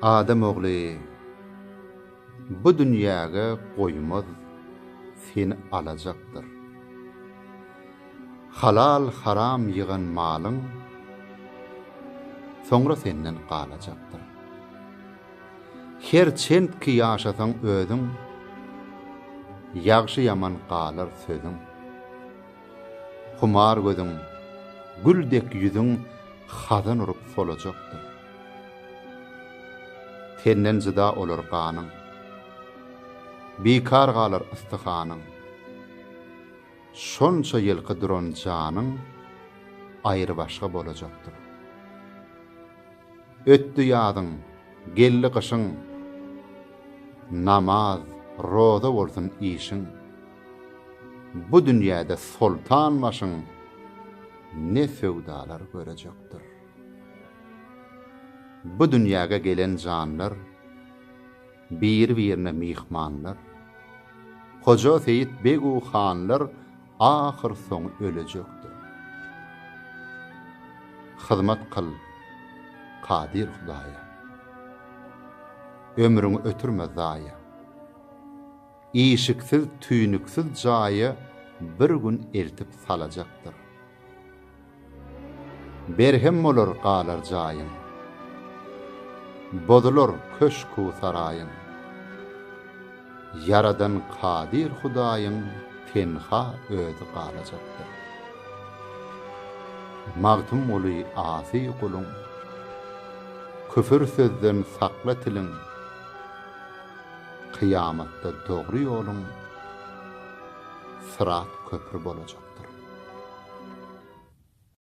Adam ogly bu dünýäge goýmaz seni alajakdyr. Halal haram ýygan malyň soňra senden galajakdyr. Her çent ki ýaşasaň özüň ýagşy ýaman galar sözüň. Humar gözüň, gül dek ýüzüň hazan urup solajakdyr. Tenden jyda olar ganyň. Bikar galar ystyhanyň. Şonça ýylky duran janyň aýrybaşga bolajakdyr. Ötdi ýazyň, geldi gyşyň. Namaz, roza bolsun işiň. Bu dünýäde soltan başyň ne söwdalar görejekdir. Bu dünýäge gelen janlar biri-birine myhmanlar. Hoja Seýit beg-u hanlar ahyrsoňy ölejekdir. Hyzmat kyl Kadyr Hudaýa. Ömrüňi ötürme zaýa. işiksiz-tüýnüksiz jaýa bir gün eltip salajakdyr. Berhem bolar galar jaýyň. Bozular köşk-u-saraýyň. Ýaradan Kadyr Hudaýyň tenha özi galajakdyr. Magtymguly Asy guluň. Küfür sözden sakla tiliň. Kyýamatda dogry ýoluň Syrat köpri bolajakdyr.